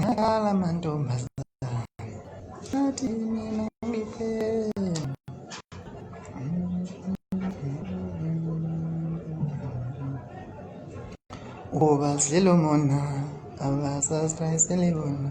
Nakala mantombazana athi mina ngiphela ubazilomona abasasrayisele bona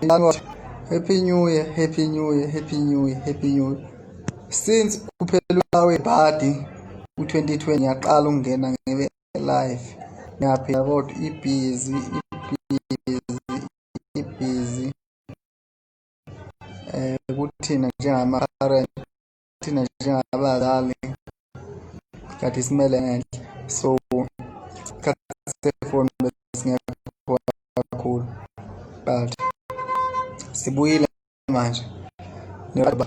January. Happy New Year, Happy New Year, Happy New Year, Happy New Year. Since kuphelwa webhadi u-2020 ngiyaqala ukungena ngibe live. Ngiyaphila kodwa ibhizi, ibhizi, ibhizi. Eh kuthina njengama-current thina njengabazali kade simele ngenhla so isikhathi sefoni besingekho kakhulu but sibuyile manje njengoba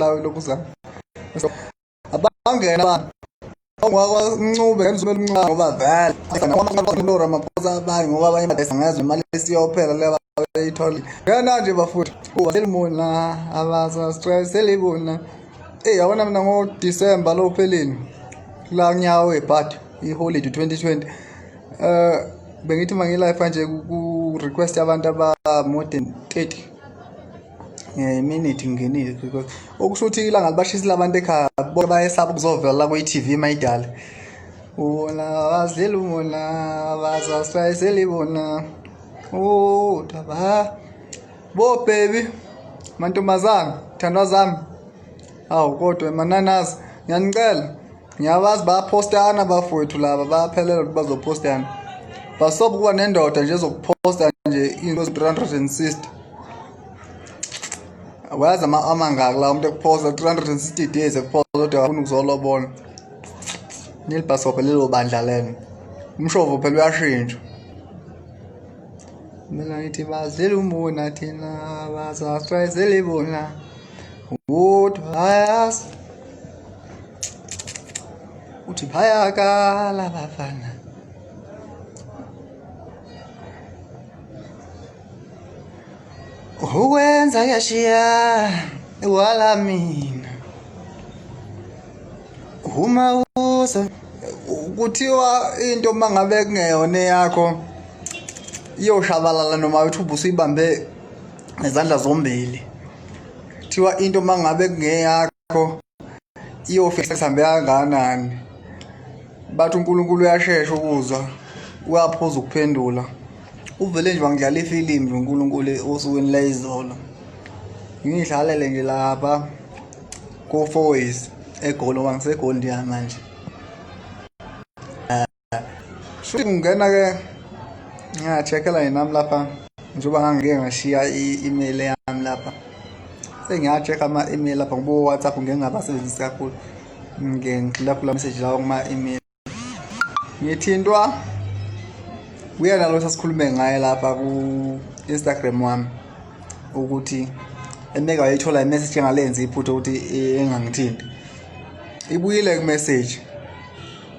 lawe lokuza abangena abantu ongwakwancube ngenza umncane ngoba vele asanawamaqolora amaphosa abanye ngoba abanye badayisa ngazo imali esiyophela leba beyithole ngena nje bafuthi kuba selimona abaza stress selibona eh yabona mina ngo December lo phelini la nyawo ebhadi iholiday 2020 eh bengithi mangilife nje ku request abantu aba more than 30 ngeminethi ngingenile because okusho ukuthi ilanga libashisile abantu ekhaya bonke bayesaba ukuzovela la kwi-tv mayidala wona bazidlela umona bazasayiseli bona udaba oh, bo baby mantombazana thandwa zami awu kodwa mananazi ngiyanicela ngiyabazi bayaphostana bafowethu laba bayaphelela ukuthi bazophostana basobe ukuba nendoda nje ezokuphosta nje into zi-360 wayazi amangaki la umuntu ekuphosta 360 days ekuphosta kodwa afuna ukuzolobona nilibhasobhe lelo bandla lelo umshovo phela uyashintsha mina ngithi bazile umbona thina bazastrayizele ibona kodwa ayazi uthi bayakala bafana ukwenza yashiya wala mina uma uza kuthiwa into uma ngabe kungeyona eyakho iyoshabalala noma uthi ubusuyibambe ngezandla zombili kuthiwa into uma ngabe kungeyakho yakho iyofika sihambe kangakanani bathi uNkulunkulu uyashesha ukuzwa uyaphuza ukuphendula uvele nje wangidlala ifilimu nje uNkulunkulu osukwini layizolo ngiyidlalele nje lapha ko-four ways egolo wangisegoli ndiyamanje shuthi kungena ke ngiyacheckela yena nami lapha njengoba ngangike ngashiya i-email yami lapha sengiyacheck ama-email lapha ngoba whatsapp ngeke ngabasebenzisi kakhulu ngike ngigxila kula message lawo kuma-email ngithintwa uyena lo sasikhulume ngaye lapha ku-instagram wami ukuthi emeke wayithola imessage engalenzi iphutha ukuthi engangithinti ibuyile kumeseji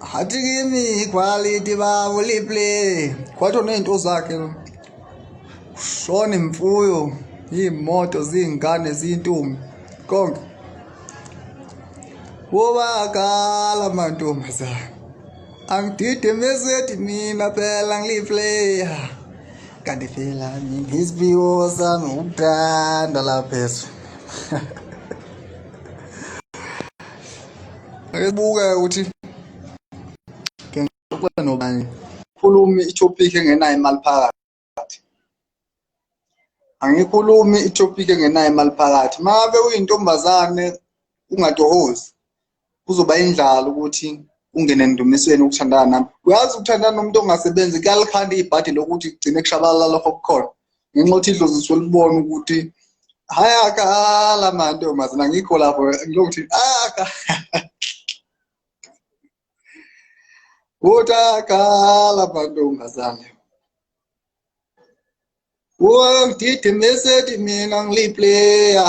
Hathi kimi iquality bawo liplay. Kwathi onento zakhe lo. Shona imfuyo, imoto, zingane, zintombi, konke. Wobakala mantombazana. Angidide mesethi mina phela ngiliplayer. Kanti phela ngiziphiwo sami ukuthanda laphezu. Ngebuka ukuthi ngixoxe nobani. Khulumi i-topic engenayo imali phakathi. Angikhulumi i-topic engenayo imali phakathi. Mabe uyintombazane ungatohozi. Kuzoba indlala ukuthi ungene endumisweni ukuthandana nami. Uyazi ukuthandana nomuntu ongasebenzi kuyalikhanda ibhadi lokuthi kugcine kushabalala lokho kukhona. ngenxa yokuthi idlozi lisuke libona ukuthi hhayi akala manje mazina ngikho lapho ngilokuthi aka ukuthi akala mantombazane wangididimesedi mina ngilipleya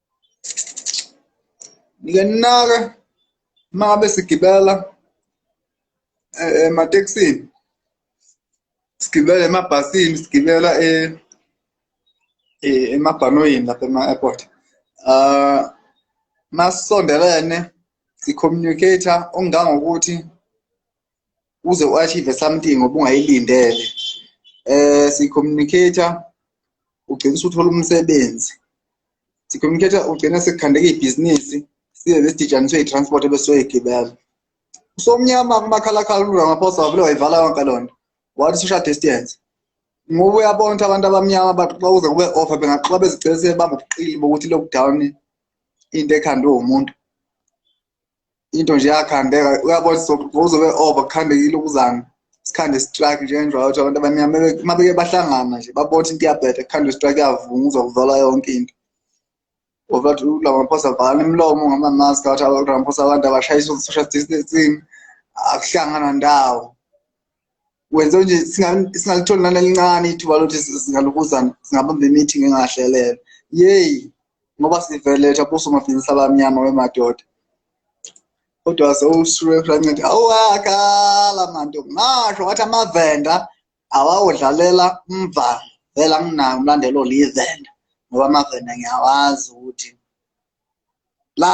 ngiyanaka uma ngabe sigibela eh, ematekisini sigibela emabhasini sigibela eh, eh, emabhanoyini lapha ema-airport um masisondelene si-communicator ongangokuthi uze u-achieve something obungayilindele eh si-communicator ugcina usuthola umsebenzi si-communicator ugcina sekukhandeka ibhizinisi size besidijaniswe i-transport ebesoyigibela usomnyama kumakhalakhala uramaphosa wavele wayivala yonke loo nto wathi social distance ngoba uyabona ukuthi abantu abamnyama baxoxa kuze kube offa bengaxoxa bezigcina sebebamba ubuqili bokuthi lockdown into ekhandwe wumuntu into nje yakhandeka uyabona uzobe over kukhandekile ukuzana sikhande strike njengenjalo ukuthi abantu abamnyama uma beke bahlangana nje babona ukuthi into iyabheda kukhande strike yavunga uzokuvala yonke into ngoba ukuthi uramaphosa avala imilomo ngamamaski athi uramaphosa abantu abashayisa social distancing akuhlangana ndawo wenze nje singalitholi nalelincane ithuba lokuthi singalubuzana singabamba i-meeting engahlelele yeyi ngoba siveletha buso mabhizinisi abamnyama wemadoda kodwa sewusureancedi awakala manto ngasho wathi amavenda awawudlalela mva vela nginayo umlandelo oliyivenda ngoba amavenda ngiyawazi ukuthi la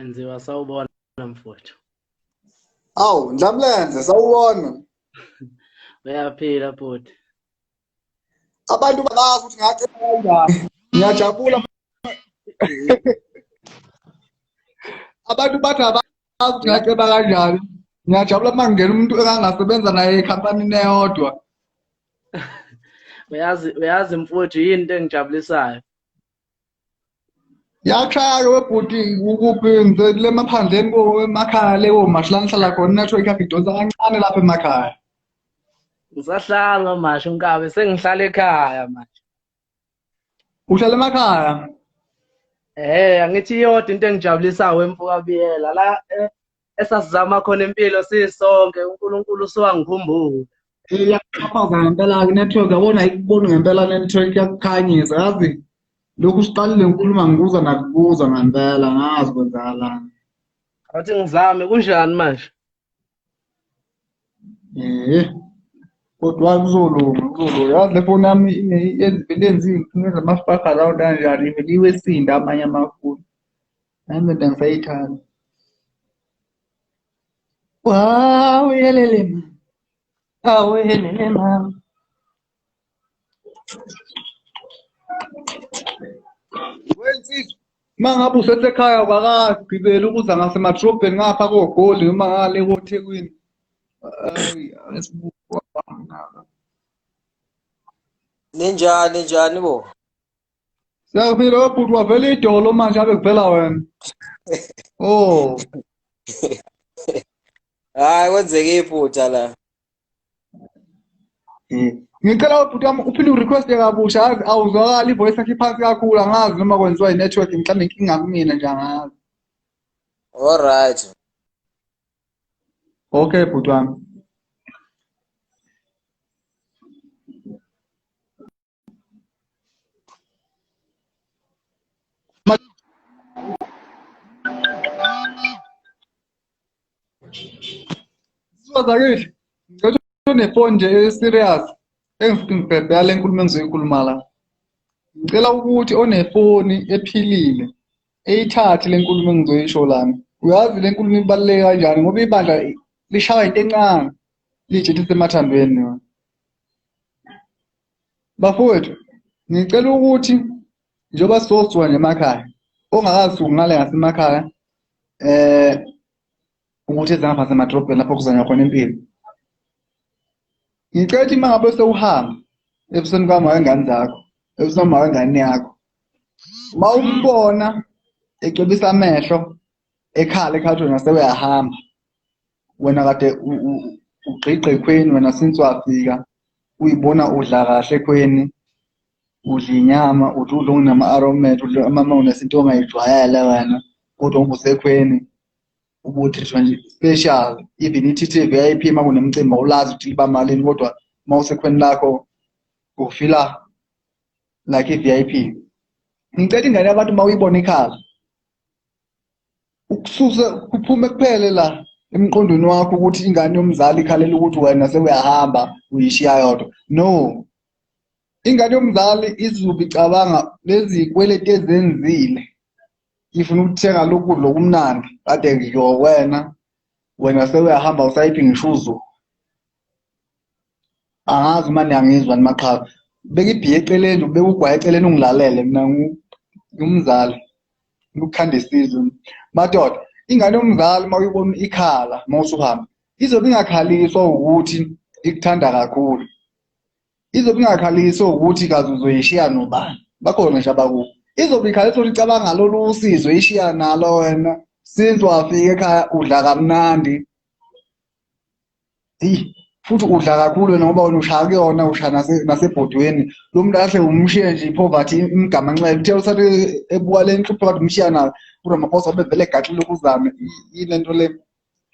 Enziwa sawubona mfowethu. Awu Ndlamlenze sawubona. Uyaphila bhuti. Abantu babazi ukuthi ngathi kanjani. Ngiyajabula. Abantu bathi abazi ukuthi ngaceba kanjani. Ngiyajabula uma ngingena umuntu engangasebenza naye ekhampanini eyodwa. Uyazi uyazi mfowethu yini into engijabulisayo? Yakhaya webhuti ukuphi ngicela emaphandleni koemakhaya lewo mashi la ngihlala khona network yakhe idonsa kancane lapha emakhaya. Ngisahlanga mashi unkabe sengihlala ekhaya manje. Uhlala emakhaya? Eh angithi iyodwa into engijabulisayo emfoka biyela la eh, esasizama khona impilo sisonke uNkulunkulu usuwangikhumbula iyaxhaphaza ngempela-ke network yabona ayikuboni ngempela network yakukhanyisa yazi lokhu siqalile nkulumo angikuza nakubuza ngempela ngazi kwenzakalani athi ngizame kunjani manje eh kodwa kuzolunga kuzolunga yazi le foni yami yenza izinkinga zamafaka lawo kanjani ivele iwesinda amanye amafoni Nami ndoda ngisayithanda. Wow, yelele ma. Awu yelele ma. Wensizwa uma ngabe usesekhaya wakagibela ukuza ngasemadrobheni ngapha kogoli noma ngale kothekwini ninjani ninjani bo Siyakuphila webhuti wavela idolo manje ave kuvela wena. Oh. Hayi kwenzeke iphutha la. Hmm. Ngicela ubhuti wami uphinde urequest kabusha azi awuzwakali ivoice yakhe phansi kakhulu angazi noma kwenziwa inetwork mhlawumbe inkinga kumina nje angazi. All right. Okay bhuti wami. Sibazakile. Ngicela unefoni nje e-serious engifike ngibhebhe yale nkulumo engizoyikhuluma la. Ngicela ukuthi onefoni ephilile eyithathe le nkulumo engizoyisho lana. Uyazi le nkulumo ibaluleke kanjani ngoba ibandla lishaya into encane liyijethe emathambeni yona. bafowethu ngicela ukuthi njengoba sizosuka nje emakhaya ongakasuki ngale ngasemakhaya eh ukuthi ezingapha semadrobheni lapho kuzanywa khona impilo ngicela ukuthi uma ngabe sewuhamba ebusweni kwami wengane zakho ebusweni wengane yakho uma umbona ecebisa amehlo ekhala ekhathweni nasewuyahamba wena kade ugqigqe ekhweni wena since wafika uyibona udla kahle ekhweni udla inyama uthi udla onginama-aromet udla amama unesinto ongayijwayele wena kodwa ungusekhweni ubuthishwa nje special even i-tt v i p uma kunemcimbi awulazi ukuthi liba malini kodwa uma usekhweni lakho ufila like i-v i p ngicela ingane yabantu uma uyibona ikhala ukususa kuphume kuphele la emqondweni wakho ukuthi ingane yomzali ikhalela ukuthi wena sewuyahamba uyishiya yodwa no ingane yomzali izubi cabanga lezi kweleti ezenzile ifuna ukuthenga lokudla okumnandi kade ngiyo wena wena sewuyahamba usayiphi ngisho uzuku angazi uma niyangizwa ni maqhawe bekibhiye eceleni bekugwaye eceleni ungilalele mina ngumzali ngikukhanda isizwe madoda ingane yomzali uma uyibona ikhala uma usuhamba izobe ingakhaliswa ukuthi ikuthanda kakhulu izobe ingakhaliswa ukuthi kaze uzoyishiya nobani bakhona nje abakubo izobe ikhaliswa ukuthi icabanga lolu usizo ishiya nalo wena since wafika ekhaya udla kamnandi eyi futhi udla kakhulu wena ngoba wena ushaya kuyona ushaya nasebhodweni lo muntu kahle umshiye nje i-poverty imgamanxele uthe usathi ebuka le nhlupho kade umshiya nayo uramaphosa bevele egaxile ukuzame yile nto le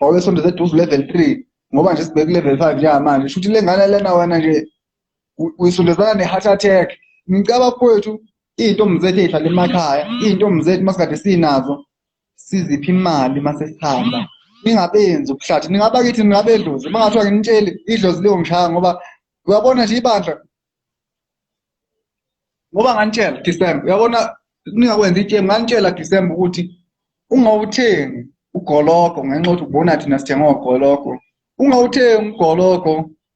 wawesondeza eduze u-level three ngoba nje sibheke ku-level five njengamanje shuthi le ngane lena wena nje uyisondezana ne-heart attack ngicaba kwethu iy'ntombi zethu ey'hlala emakhaya iy'ntombi zethu masikade sinazo siziphi imali uma sesihamba ningabenzi ubuhlathi ningaba kithi ningabedlozi uma ngathiwa nginitsheli idlozi liyongishaya ngoba uyabona nje ibandla ngoba nganitshela December uyabona ningakwenza itshemu nganitshela December ukuthi ungawuthengi ugologo ngenxa ukuthi ubona thina sithenga ogologo ungawuthengi ugologo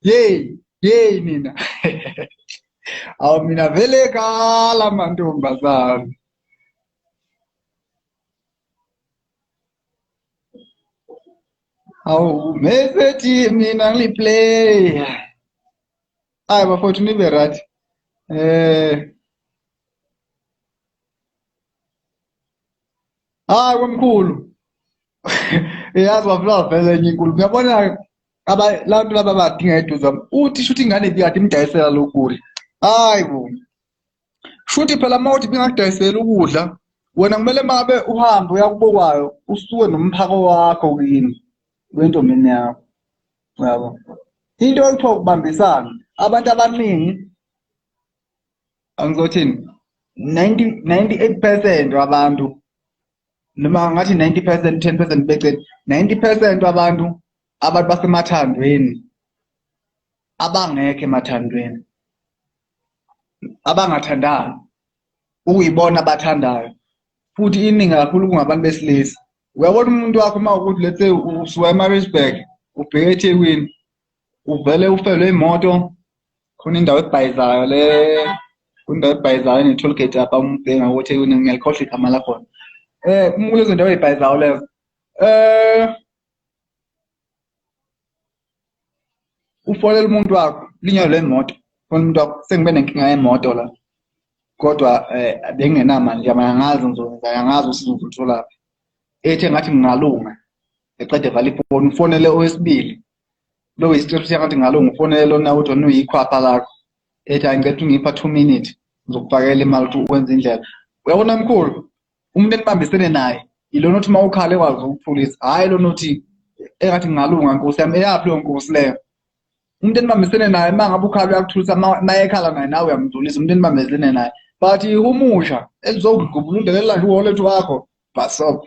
yeyi yeyi nina awu mina vele kala mantombazane awu mesethi mina ngiplaya hayi bafowethu nibe right um eh. hayi komkhulu yazi wafla vele enye inkulu uyabona abantu laba badinga eduze uthi shuthi ingane bikade imdayisela lokudla hayi bo shuthi phela uma uthi bingakudayisela ukudla wena kumele mabe uhambe uyakubokwayo usuke nomphako wakho kini wentombini yakho yabo into ekuthiwa ukubambisana abantu abaningi angizothini 98 percent wabantu noma ngathi 90 percent 10 percent becet 90 percent abantu abantu basemathandweni abangekho emathandweni abangathandayo ukuyibona abathandayo futhi iningi kakhulu kungabantu besilisa uyabona umuntu wakho uma ukuthi lethe usuka emaritzburg ubheke ethekwini uvele ufelwe imoto khona indawo ebhayizayo le kundawo ebhayizayo ne-toll gate apha umbhenga ukuthi ngiyalikhohla igama lakhona um kulezo ndawo ey'bhayizayo lezo um ufolela umuntu wakho linyalo lemoto fona umuntu wakho sengibe nenkinga yemoto la kodwa um bengingenamali nje manje angazi ngizokwenza angazi ukuthi ngizolutholaphi ethi engathi ngingalunga eqede vala ifoni ufonele owesibili lowo isicelo siyangathi ngalo ngifonele lona uthi wena uyikhwapha lakho ethi hayi ngicela ungipha two minute ngizokufakela imali ukuthi wenze indlela uyabona mkhulu umuntu enibambisene naye ilona othi uma ukhale ekwazi ukuthulisa hhayi lona othi engathi ngingalunga nkosi yami eyaphi leyo nkosi leyo umuntu enibambisene naye uma ngabe ukhale uyakuthulisa uma ekhala naye nawe uyamdlulisa umuntu enibambisene naye but ihumusha elizokugubula undelela nje uholethu wakho bhasobha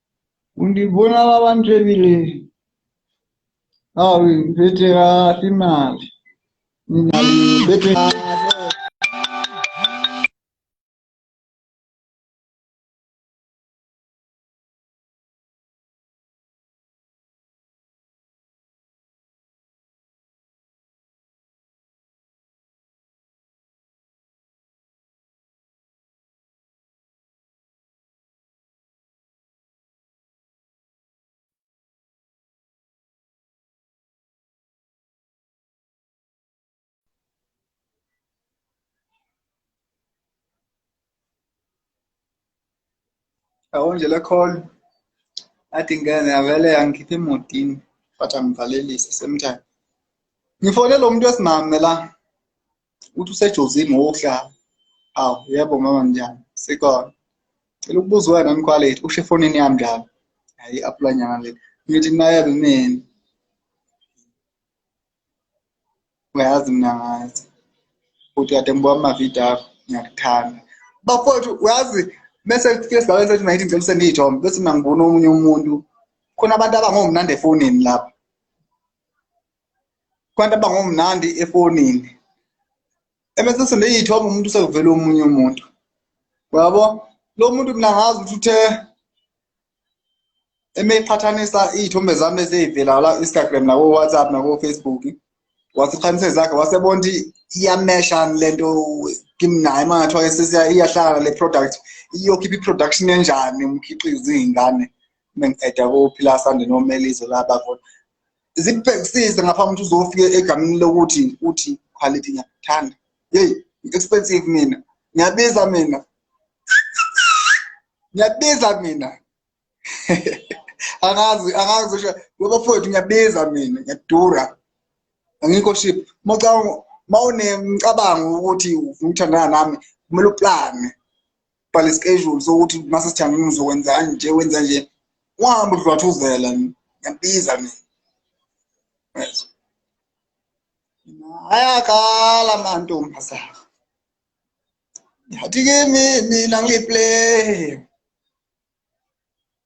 undibona babantu ebileni awu ngiphethe kahle imali mina ngiphethe Awondlela call athi ngene avele angikhiphe emotini but angivalelise same time ngifone lo muntu wesimame la uthi usejozini wokudlala awu yebo mama njani sikhona cela ukubuza wena mkhwalethi usho efonini yami njalo hayi i-apulanyana le ngithi nayebe mina uyazi mina ngazi futhi kade ngibuka amavidiyo akho ngiyakuthanda bafowethu uyazi bese kufike esigabeni sethu nayithi ngicela usendiyithombe bese mina ngibona omunye umuntu khona abantu abangomnandi efonini lapho kwanti abangomnandi efonini ebese sendeyithoma umuntu sekuvela omunye umuntu yabo lo muntu mina ngazi ukuthi uthe emeqhathanisa iy'thombe zami ezeyivela la instagram nako-whatsapp nako-facebook wasiqhanise zakhe wasebona ukuthi iyamesha le nto kimnaye uma ngathiwa sesiya iyahlangana le product iyokhipha i-production enjani umkhiqizo iy'ngane uma ngi-eda kophila sande nomelizo la bakhona zikubhekisise ngaphambi ukuthi uzofike egameni lokuthi uthi quality ngiyakuthanda yeyi expensive mina ngiyabiza mina ngiyabiza mina angazi angazi usho ngoba futhi ngiyabiza mina ngiyadura angikho ship mawucabanga mawunemcabango ukuthi ufuna ukuthandana nami kumele uplane bhala ischedule sokuthi mase sijangile uzokwenzani nje wenza nje wahamba udlwathuzela ngiyabiza mina yezwa ayakhala amantombazana yathi kimi mina ngiplay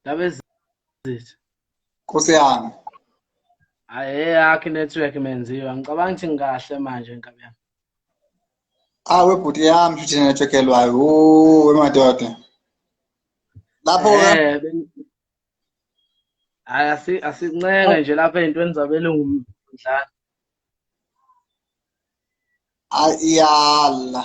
Ndaba ezithu. Nkosi yami. Hayi eyakhe network menziwa. Ngicabanga ukuthi ngikahle manje nkabi yami. Ah webhuti yami futhi network elwayo. Ooh wemadoda. Lapho eh Hayi asi asincenge nje lapha ezintweni zabelungu mdlana. Ayala.